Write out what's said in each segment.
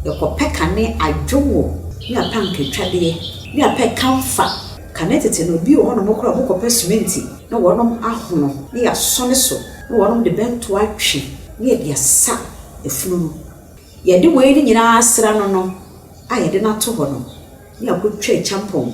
Yɛkɔpɛ kane adwowo ne apankatwadeɛ ne apɛ kamfa. Kane tete no, bi wɔ hɔnom koraa a wɔkɔpɛ sementi na wɔnom ahono na yɛasɔ ne so na wɔnom de bɛnto atwe na yɛde asa efunu no. Yɛde wei no nyinaa asra no no a yɛde no ato hɔ no na yɛakɔtwa kyampɔn.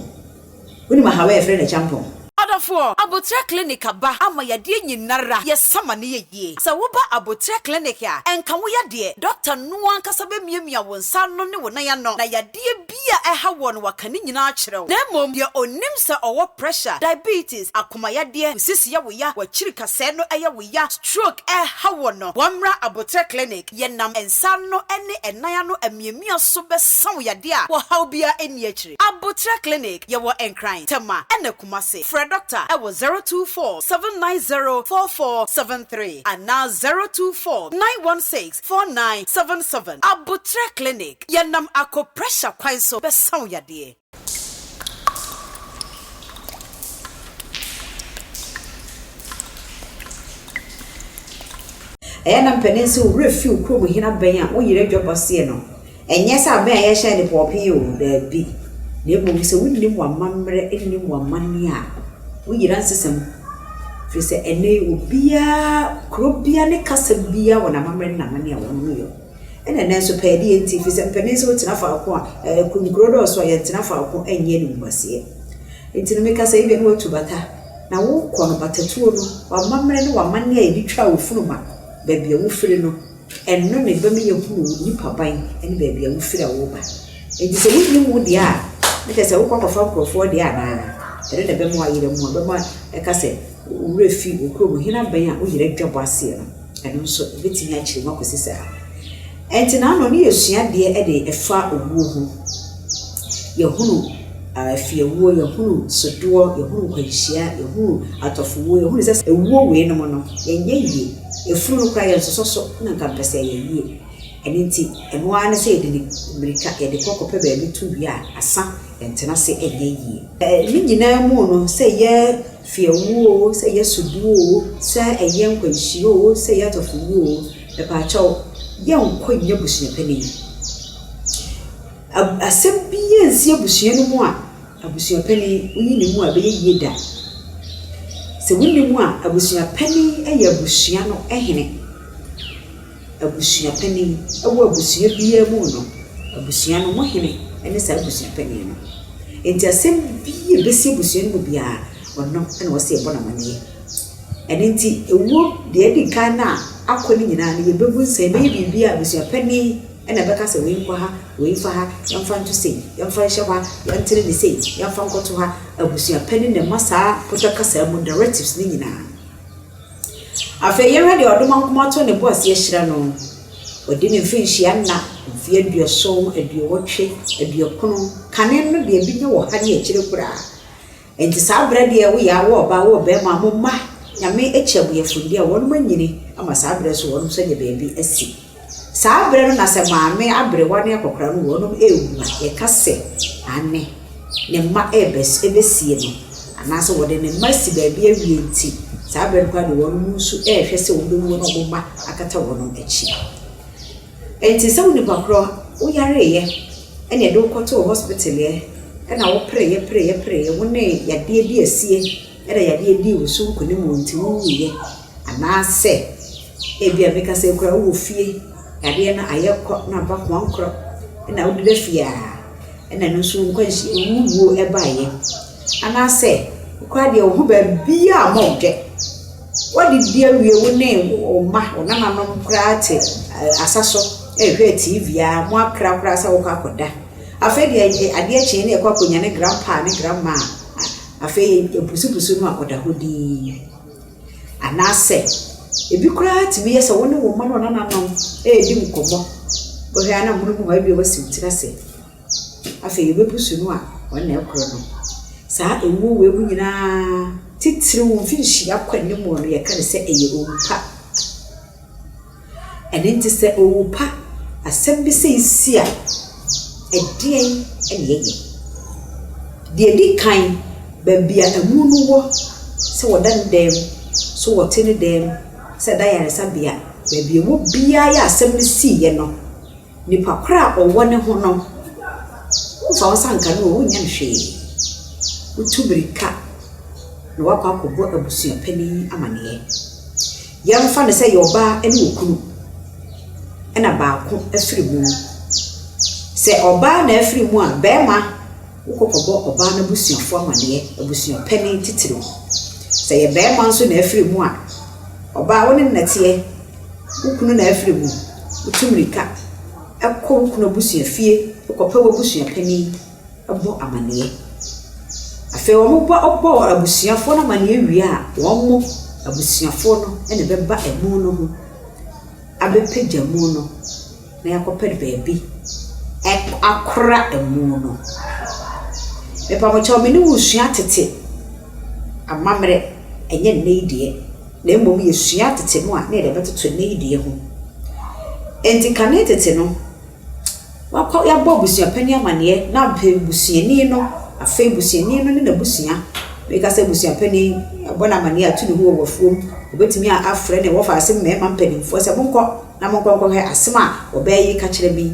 Wonim ahaw a yɛfrɛ no kyampɔn? Adɔfoɔ, aboterɛ clinic aba ama yadeɛ nyinara, yɛsa ma no yɛ yie. Sɛ woba aboterɛ clinic a, ɛnka wo yadeɛ, doctor no ankasa bɛmiamia wo nsa ano ne wo nan ano na yadeɛ bi a ɛha woɔ no waka ne nyinaa akyerɛ wo. Na mmom deɛ ɔnim sɛ ɔwɔ pressure, diabetes, akomayadeɛ, wo sisi yɛ wo ya, w'akyiri kasɛɛ no yɛ wo ya, stroke ɛreha woɔ no, wɔmmra aboterɛ clinic. Yɛnam nsa ano ne ɛnan ano amiamia so bɛsa wo yadeɛ a ɔhaw biara nni akyire. Aboterɛ Clinic, Yɛwɔ Nkran, Tema ɛna Kumasi. Frɛ dɔkta wɔ 024 790 4473 anaa 024 916 4977. Aboterɛ Clinic, Yɛnam akɔ pressure kwan so bɛsa wo yadeɛ. Ɛyɛ na mpanin sɛ wo werɛ fi wo kurom hene abɛn a wo yere adwa bɔ seɛ no, ɛnyɛ sɛ abɛn a yɛhyɛn de pɔɔpee o, daabi, na mmom sɛ wonnim w'amammerɛ nnim w'amanneɛ a, wo yera nsesam. Ɛfiri sɛ ɛnnɛ yi obiara, kuro biara ne kasa biara wɔ n'amammerɛ ne n'amanneɛ a wɔnom yɔ. Ɛna ɛnnɛ nso pɛɛ deɛ nti firi sɛ mpanin sɛ wotena faako a ɛɛ nkuro dɔɔso a yɛntena faako ɛnyɛ animguaseɛ nti no meka sɛ ebia na watu bata na wokɔ no batatuo no w'amammerɛ ne w'amanneɛ a yɛde twaa wo funuma baabi a wofiri no ɛno na ɛbɛma yɛahunu wo nipaban ne baabi a wofiri a woreba nti sɛ wonnim wo deɛ a ne kyɛ sɛ wokɔ akɔfa nkurɔfoɔ deɛ anaa ɛno na ɛbɛma wayera mu ɛbɛma ɛka sɛ wo werɛ fi wo kurom hena bɛn a wo yera dwa bɔ aseɛ no. Ɛno nso, ɛbɛtumi akyere mu akɔsi saa. Ɛnti na ano no yɛ suadeɛ de ɛfa owuo ho. Yɛhunu afiewuo, yɛhunu sodoɔ, yɛhunu nkwanhyia, yɛhunu atɔfowuo, yɛhunu sɛ ewuo wei nom no, yɛnyɛ yie. Efunu no koraa yɛnsosɔ so na nka mpɛ sɛ ɛyɛ yie. Ɛno nti, ɛno ara ne sɛ yɛde ne mmirika yɛde kɔ kɔpɛ baabi to wie a, asa, yɛntena ase nyɛ yie. Ne nyinaa mu no, sɛ yɛ Sɛ yɛwu oo, sɛ yɛsɔ bu oo, sɛ ɛyɛ nkwanhyia oo, sɛ ɛyɛ adɔfo wu oo, mepaakyɛw, yɛnkɔ nnya abusua panin. Ab asɛm biara nsi abusua no mu a, abusua panin, wonyi ne mu a, ɛbɛyɛ yie da. Sɛ wonni mu a, abusua panin yɛ abusua no hene. Abusua panin. Wɔ abusua biara mu no, abusua no mu hene ne saa abusua panin no. Enti asɛm bi a ɛbɛsi abusua no mu biara, ɔno na ɔsɛ yɛbɔ no amanneɛ. Ɛno nti, ɛwom, deɛ ɛdi kan no a akɔ no nyinaa no, yɛbɛbu nsɛm, yɛbɛyɛ biribi a abusua panin na ɛbɛka sɛ wei nkɔ ha, wei mfa ha, yɛmfa nto sei, yɛmfa nhyɛ hɔ ha, yɛntene no sei, yɛmfa nkɔto ha. Abusua panin na ɛma saa pɔtɔ kasa mu directives no nyinaa. Afei yɛnhwɛ deɛ ɔde mɔnkoma to ne bo ase ahyira no. Wadi ne mfirinhyia nna, mfeɛ aduɔson, aduowɔtwe, aduokron, kane no deɛ bi nyɛ wɔ ha ne akyire koraa. Nti saa berɛ deɛ woyɛ a wo ɔba wo ɔbɛɛma mo mma Nyame akyi abuyɛfoɔ nni a wɔnom anyini ama saa berɛ so wɔnom nso anya baabi asi. Saa berɛ no na sɛ maame aberewa ne akɔkora no wɔ nom ɛrewu a, yɛka sɛ maame ne mma ɛrebɛsie no anaasɛ wɔde ne mma asi baabi awie nti saa berɛ no koraa de wɔnom nso ɛrehwɛ sɛ wɔn bɛwuo na wɔn mma akata wɔnom akyi. Ɛnti sɛ wo nipa korɔ wo yareeɛ ɛne ɛde wokɔtoo hospitaleɛ ɛna wo pereeɛ pereeɛ pereeɛ wo ne yadeɛ bi asie Ɛna yadeɛ dii wo so nkonim o nti wo wuiɛ anaasɛ ebia meka sɛ koraa wowɔ fie yadeɛ no ayɛ kɔ na aba koankorɔ ɛna wode ba fie a ɛna ɛno nso wo nkwanhyia wo wuo ɛbaeɛ anaasɛ wo koraa deɛ wo ho baabiara mmɔ wo dɛ woadidi awie wo ne wo mma wo nananom koraa te asa so ɛrehwɛ TV ara moakra koraa sɛ wokɔ akɔda afei deɛ adeɛ kyeeɛ na ɛkɔ akɔnya ne grandpa ne grandma a. Afei abusubusu no a ɔda hɔ dinn. Anaasɛ ebi koraa tumi yɛ sɛ wo ne wo mma ne wo nananom redi nkɔmmɔ. Wohwɛ a na amonom hɔ ebia woasi wo tiri ase. Afei wobebusu no a, wɔn na ɛrekɔ no. Saa awuo wei mu nyinaa, titiriw mfinhyia kɔ anim no, wɔka no sɛ ɛyɛ owupa. Ɛno nti sɛ owu pa asɛm bi sei si a, ɛdeɛn na yɛyɛ? Deɛ ɛdi kan, baabi a amu no wɔ, sɛ wɔda no dɛm, sɛ wɔte no dɛm, sɛ ɛda ayaresabea, baabi a ɛwɔ biara a asɛm no siiɛ no, Nipa korɔ a ɔwɔ ne ho no, womfa wo nsa nka no o, wonyɛ no hwee. Wotu mirika na woakɔ akɔbɔ abusua panin amaneɛ. Yɛmfa no sɛ ɛyɛ ɔbaa ne okunu, ɛna baako afiri mu. Sɛ ɔbaa na afiri mu a, barima wokɔ kɔbɔ ɔbaa no abusuafoɔ amaneɛ, abusua panin titiriw. Sɛ ɛyɛ barima nso na afiri mu a, ɔbaa wo ne no na ɛteɛ. Wo kunu na afiri mu. Wotu mmirika kɔ wo kunu abusua fie kɔpɛ w'abusua panin bɔ amanneɛ. Afei wɔbɔ bɔ abusuafoɔ no amanneɛ wie a, wɔn abusuafoɔ no na ɛbɛba amu no ho abɛpagya amu no. na yɛakɔpɛ baabi akora amu no. Mepamokyɛw me ne wo sua tete amammerɛ, ɛnyɛ nnɛ yi deɛ, na mmom yɛsua tete no a, na yɛde bɛtoto nnɛ yi deɛ ho. Enti kane tete no, wɔakɔ wɔabɔ abusua panin amaneɛ na afei busuani no, afei busuani no ne n'abusua, meka sɛ abusua panin, wɔabɔ no amaneɛ, wɔatu ne ho wɔ afuom, wɔbɛtumi afrɛ ne wɔfa ase mmarima mpanimfoɔ sɛ monkɔ. Na monkɔ nkɔhwɛ asem a wɔbɛɛ yi kakyerɛ bi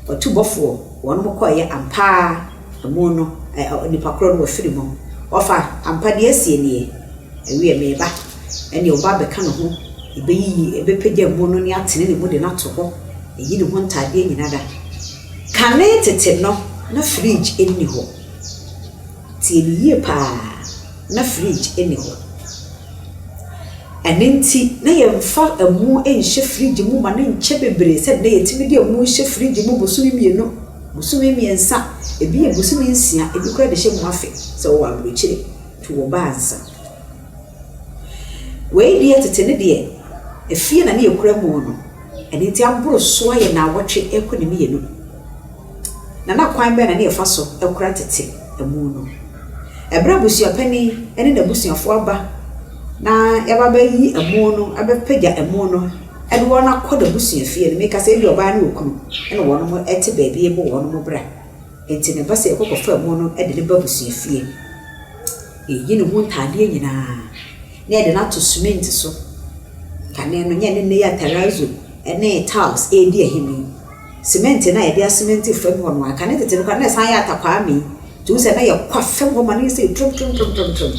ɔtubɔfoɔ, wɔnom kɔeɛ ampa ara amu no, ɛ, ɔ, nipa korɔ no wafiri mu. Ɔfa, ampa deɛ asie nie, ɛwiɛ meba, ɛneɛ ɔba abɛka ne ho, ɛbɛyiyi, ɛbɛpagya amu no ne atene ne mu de no ato hɔ, ɛyi ne ho ntaadeɛ nyina da. Kane tete no, na fridge nni hɔ. Tie me yie paa, na fridge nni hɔ. Ɛno nti, na yɛmfa ɛmo nhyɛ fridge mu ma no nkyɛ bebree sɛdeɛ na yɛtumi de ɛmo hyɛ fridge mu bosome mmienu, bosome mmiɛnsa, ɛbi yɛ bosome nsia, ɛbi koraa de hyɛ mu afe sɛ wowɔ aburokyire nti wɔ ba ansa. Wei deɛ tete no deɛ, ɛfie na na yɛkura mu no, ɛno nti aboro so ayɛ nnawɔtwe ɛrekɔ ne mmienu. na na kwan bɛn na na yɛfa so kora tete amu no? Bere a abusuapanin ne n'abusuafo aba na wɔaba abɛyi amu no, abɛpagya amu no de wɔn akɔ n'abusuafie no, meka sɛ ebia ɔbaa ne okunu na wɔn te baabi rebɔ wɔn bra. Enti na ɛba sɛ yɛkɔ kɔfa amu no de no ba abusuafie. Yɛyi ne ho ntadeɛ nyinaa na yɛde no ato semɛnti so. Kane no, nyɛ ne nnɛyi atarazo ne tiles redi ahini. semɛnte no a yɛde asemɛnte fam hɔ no a, nka ne tete no koraa na ɛsan yɛ atakwaame. Nti wohu sɛ na yɛkɔ afam hɔ ma no yɛ sɛ toromtoromtoromtoromtorom.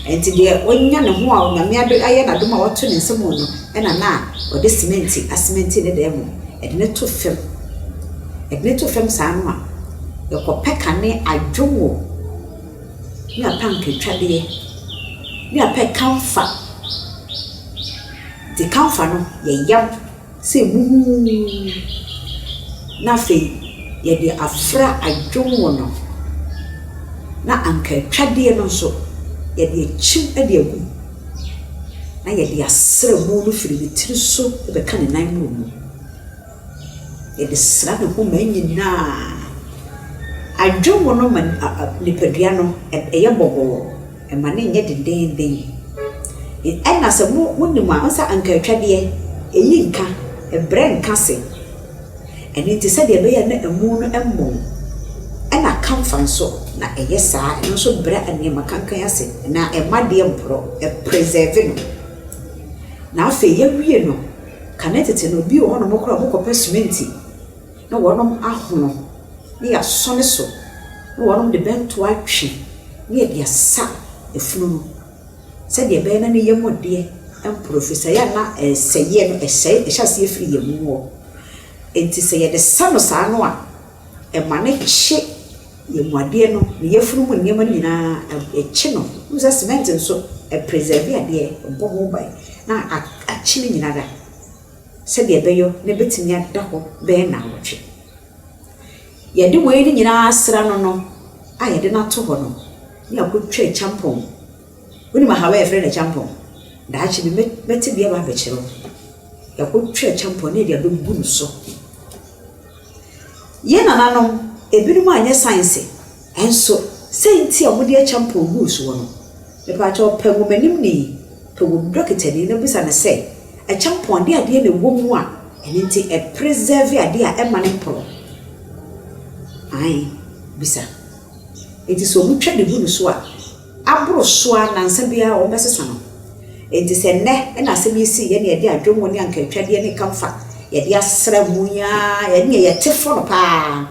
Nti deɛ wanya ne ho a Onyame adom ayɛ no adom a wato ne nsa mu no ɛna na ɔde semɛnte asemɛnte ne dan mu, ɛde no to fam. Ɛde no to fam saa no a, yɛkɔpɛ kane adwongo ne apankotwadeɛ ne apɛ kamfa. Nti kamfa no yɛyam. Sɛ buhuumm! Na afei yɛde afra adwom wɔ no ho, na anka atwadeɛ no nso yɛde akyim de agu mu, na yɛde asra mu no firi ne tiri so bɛka ne nan mmoro mu. Yɛde sra ne homa nyinaa. Adwom no ma nipadua no, ɛyɛ bɔbɔɔ. Ɛma no nyɛ dendeenden. Ɛna sɛ mo monim a, ɔnsɛ anka atwa deɛ, ɛyi nka, ɛbrɛ nka se. Ɛno nti sɛdeɛ ɛbɛyɛ na ɛmu no mmɔn, ɛna kamfa nso na ɛyɛ saa, ɛno nso brɛ nneɛma kankan ase anaa ɛma adeɛ mporɔ, ɛpresɛɛve no. Na afei yɛawie no, kane tete no, bi wɔ hɔnom koraa a wɔkɔpɛ sementi. Na wɔnom ahono, na yɛasɔ ne so, na wɔnom de bɛnto atwe, na yɛde asa efunu no, sɛdeɛ ɛbɛyɛ na ne yam deɛ ɛmporo, ɛfiri sɛ ɛyɛ a na ɛsɛeɛ no ɛsɛe, ɛhyɛ aseɛ firi yɛn mu hɔ, enti sɛ yɛde sa no saa no a, ɛma no kye yɛn mu adeɛ no, ne yafunu mu nneɛma no nyina ara, ɛkye no, wohu sɛ cement nso, ɛpresɛɛve adeɛ, ɛbɔ ho ban, na akye ne nyina ara. sɛdeɛ ɛbɛyɔ na ɛbɛtumi ada hɔ bɛyɛ nnawɔtwe. Yɛde wei no nyinaa asra no no a yɛde no ato hɔ no, ne akɔtwa akyampɔn. Wonim ahaw a yɛfrɛ no akyampɔn? Daakye bi mɛ mɛte bi aba abɛkyerɛ wo. Yɛakɔtwa akyampɔn na yɛde abɛgu no so. Yɛn nananom, ebinom anyɛ science. Nso sɛ nti a wɔde akyɛ mpɔn guu soɔ no, mepakyɛw pɛ nwomanimni, pɛ wɔn dɔkitani na bisa no sɛ, ɛkyɛ mpɔn de adeɛ na ɛwɔ mu a ɛno nti ɛ preserve adeɛ a ɛmma no mporɔ? Aane, bisa. Enti sɛ wɔn twa de gu no so a, aboro so ara nansa biara wɔn bɛsesa no. Enti sɛ nnɛ na asɛm yi sii yɛ na yɛde adwonwo ne ankaatwadeɛ ne kamfa yɛde asra mu yi ara ɛneɛ yɛte fɔ no paa.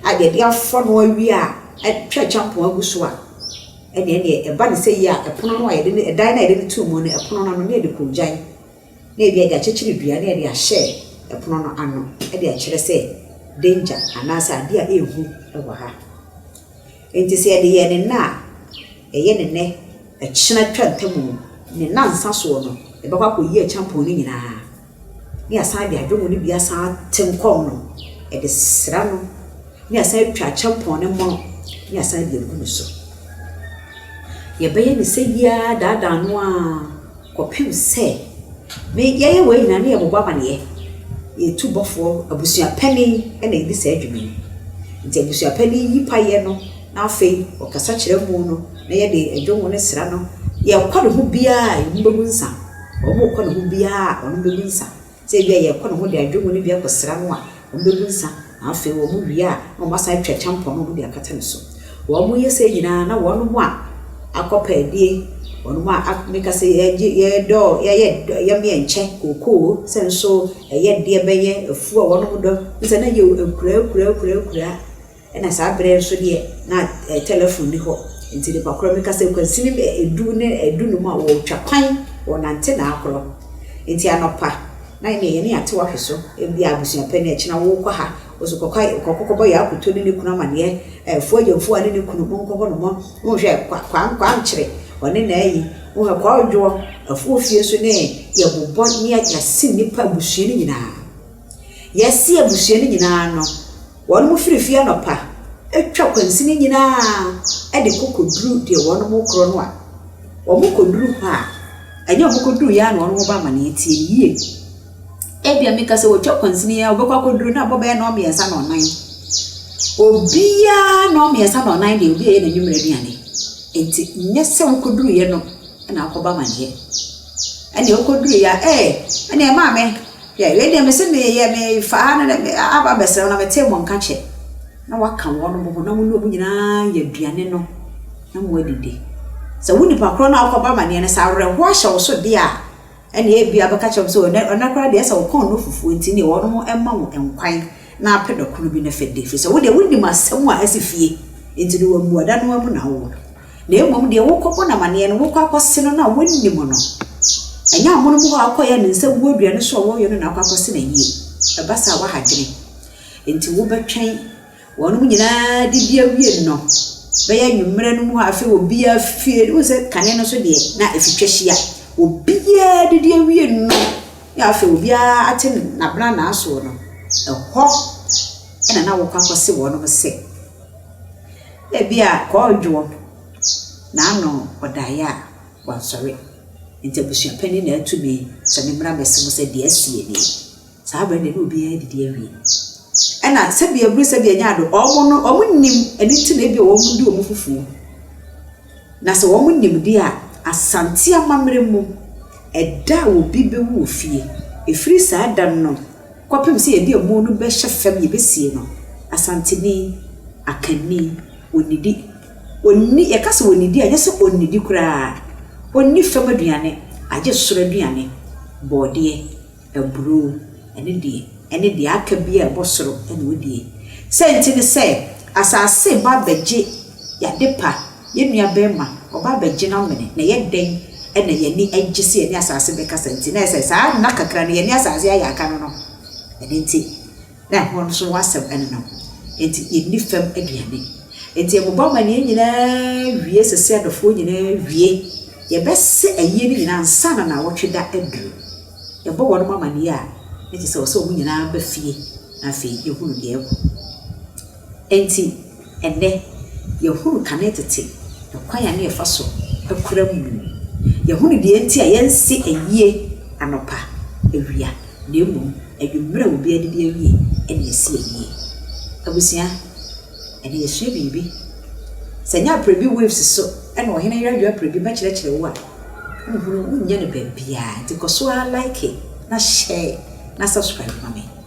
a deɛ yɛde afra no awie a atwa kyampɔn agu so a ɛneɛ neɛ ɛba ne sɛ yie a ɛpono no a yɛde ne ɛdan no a yɛde no too mu no ɛpono no ano ne yɛde koogyan na ebi yɛde akyekyere dua na yɛde ahyɛ ɛpono no ano de akyerɛ sɛ danger anaasɛ adeɛ a ɛhu wɔ ha nti sɛ yɛde yɛ ne nna a ɛyɛ ne nɛ ɛkyena twa ntamu ne nansa soɔ no ɛbɛkɔ akɔyi akyampɔn no nyinaa ne yɛasan de adwomu no bi asan atem kɔɔ no, de sra no, ne yɛasan atwa kyɛmpɔn no mono, ne yɛasan de agu no so. Yɛbɛyɛ no sɛ yi ara daadaa no ara kɔpem sɛ me yɛyɛ wei nyinaa na yɛbobɔ amaneɛ. Yɛn tu bɔfoɔ, abusua panin na ɛdi saa dwuma yi. Nti abusua panin yi payɛ no na afei ɔkasa kyerɛ amu no na yɛde adwomu no sra no. Deɛ ɛkɔ ne ho biara a, ɛmu bɛbu nsa. Wɔkɔ ne ho biara a wɔn bɛbu nsa. Sɛ ebi a yɛkɔ ne ho de adwongo no bi akɔ sra no a, wɔn bɛbu nsa. Na afei wɔn wie a, na wɔn asan atwa kyampɔn na wɔn de akata ne so. Wɔn yɛ sɛɛ nyinaa na wɔn mo a akɔ pɛ adie, wɔn mo a ak meka sɛ yɛgye yɛdɔ yɛyɛ dɔ yɛmeyɛ nkyɛ kookoo sɛ nso ɛyɛ deɛ bɛyɛ afuo a wɔn mo dɔ. Sɛ na yɛ akuraa akuraa akuraa akuraa. Ɛna saa berɛ nso deɛ na tɛlɛfon nni hɔ nti nnipa korɔ meka sɛ kwansini du ne du num a wɔtwa kwan wɔnante na akorɔ nti anɔpa na ɛneɛ yɛne ate wahwe so ebia abusua pɛ ne ɛkyena wokɔ ha oso kɔkɔ kɔkɔ kɔbɔ yakoto ne ne kunu amaneɛ ɛɛ fuagya mfua ne ne kunu monkɔ hɔ nomɔ monhwɛ kwa kwa kwankyere ɔne na ayi wohɛ kwa odwoɔ afuo fie so ne yɛbobɔ ne yɛasi nnipa abusua no nyinaa yɛasi abusua no nyinaa no Wɔnom firi fie anɔpa twa kwansini nyinaa de kɔ kɔduru deɛ wɔnom rekorɔ no a, wɔn kɔduru hɔ a, ɛnyɛ wɔn kɔduruiɛ ara na wɔnom ba amaneɛ, tie me yie, ebia meka sɛ wɔtwa kwansini a, wɔbɛkɔ akɔduru na abɔ bɛyɛ nnɔn mmiɛnsa nnɔn nan. Obiara nnɔn mmiɛnsa nnɔn nan deɛ obi ayɛ n'anwummerɛ aduane, nti nyɛ sɛ wokɔduruiɛ no na akɔbɔ amaneɛ. Ɛnna okoduui a, ee, ɛnna ɛmaa me hwɛ wei deɛ mese meyɛ mefa ha no dɛ aba abɛsra wo na metee mo nka kyɛ. Na wɔaka wɔn ho na mo ne wɔn nyinaa yɛ aduane no na moadidi. Sɛ wo nipa korɔ no a wokɔbɔ amanneɛ no, sɛ awerɛhoɔ ahyɛ wo so deɛ a, ɛnna ebia wobɛka akyerɛ wɔn sɛ ɛnnɛ koraa deɛ, ayɛ sɛ wɔkɔn no fufuo nti wɔnom mma wo nkwan. Na apɛ no koro bi no fɛ de, ɛfiri sɛ wo deɛ wonim asɛm a asi fie, enti no wɔ mmuada no ara mu na wowɔ no. Na mmom deɛ wokɔbɔ no amanneɛ no, wokɔ akɔse no na wonim no. Ɛnyɛ amonom hɔ a wokɔyɛ ne nsa wu aduane so a wɔyɛ no na wokɔ akɔse no ayie. Ɛba saa a, woaha adwene. Enti wobɛtwɛn wɔnom nyinaa didi awie no bɛyɛ anwummerɛ no mu hɔ afei obiara fie. Wohu sɛ kane no so deɛ na ɛfitwa hyia. Obiara didi awie no na afei obiara ate n'abena n'asoɔ no, ɛhɔ na na wɔkɔ akɔse wɔn sɛ, ebia kɔɔdwoɔ na ano ɔdaeɛ a wansɔre. Nti abusua panin na atumi sɛ me mmra mmɛse mo sɛ deɛ asie nie. Saa berɛ no na obiara adidi awie. Ɛna sɛdeɛ aburu sɛdeɛ ɛnyɛ ado, wɔn no wɔn nim ɛno nti na ebia wɔn de wɔn fufuo. Na sɛ wɔn nimdeɛ a Asante amammerɛ mu ɛda a obi bɛwu wɔ fie, ɛfiri saa da no kɔpem sɛ yɛde amu no bɛhyɛ fam yɛbɛsie no, Asanteni, Akanni, ɔnnidi. Ɔnni, yɛka sɛ ɔnnidi a, ɛnyɛ sɛ ɔnnidi koraa. Ɔnni fam aduane, agye soro aduane, bɔɔdeɛ. Aburoo, ɛno deɛ, ɛne deɛ aka biara a ɛbɔ soro na ɔdie. Sɛ nti ne sɛ, asase reba abɛgye y'adepa, yɛn nua barima, ɔba abɛgye n'amene, na ɛyɛ dɛn na yɛn ani agye sɛ yɛne asase bɛkasa nti, na ayɛ sɛ saa nna kakra no yɛne asase ayɛ aka no no, ɛno nti. Na ɛhɔ nso w'asɛm nenam. Enti yɛnni fam aduane. Enti yɛbobɔ amanneɛ nyinaa wie sɛsɛ adɔfoɔ nyinaa wie. Yɛbɛse ayie no nyinaa ansa na nnawɔtwe da aduru. Yɛbɔ wɔnom amanneɛ a, na kyerɛ sɛ ɛwɔ sɛ wɔn nyinaa ba fie na afei yɛhunu deɛ ɛrekɔ. Enti, ɛnnɛ, yɛahunu kane tete kwan a na yɛfa so kora mu. Yɛahunu deɛ enti a yɛnse ayie anɔpa, awia, na mmom anwummerɛ a obiara adidi awie na yɛse ayie. Abusua, ɛnnɛ yɛasua biribi. Sɛ ɛnyɛ Aprabi Waves so na Ɔhene Yardwoo Aprabi bɛkyerɛkyerɛ wo a, wonhunu, wonnya no baabiara. Enti kɔ so ara like na share na subscribe ma me.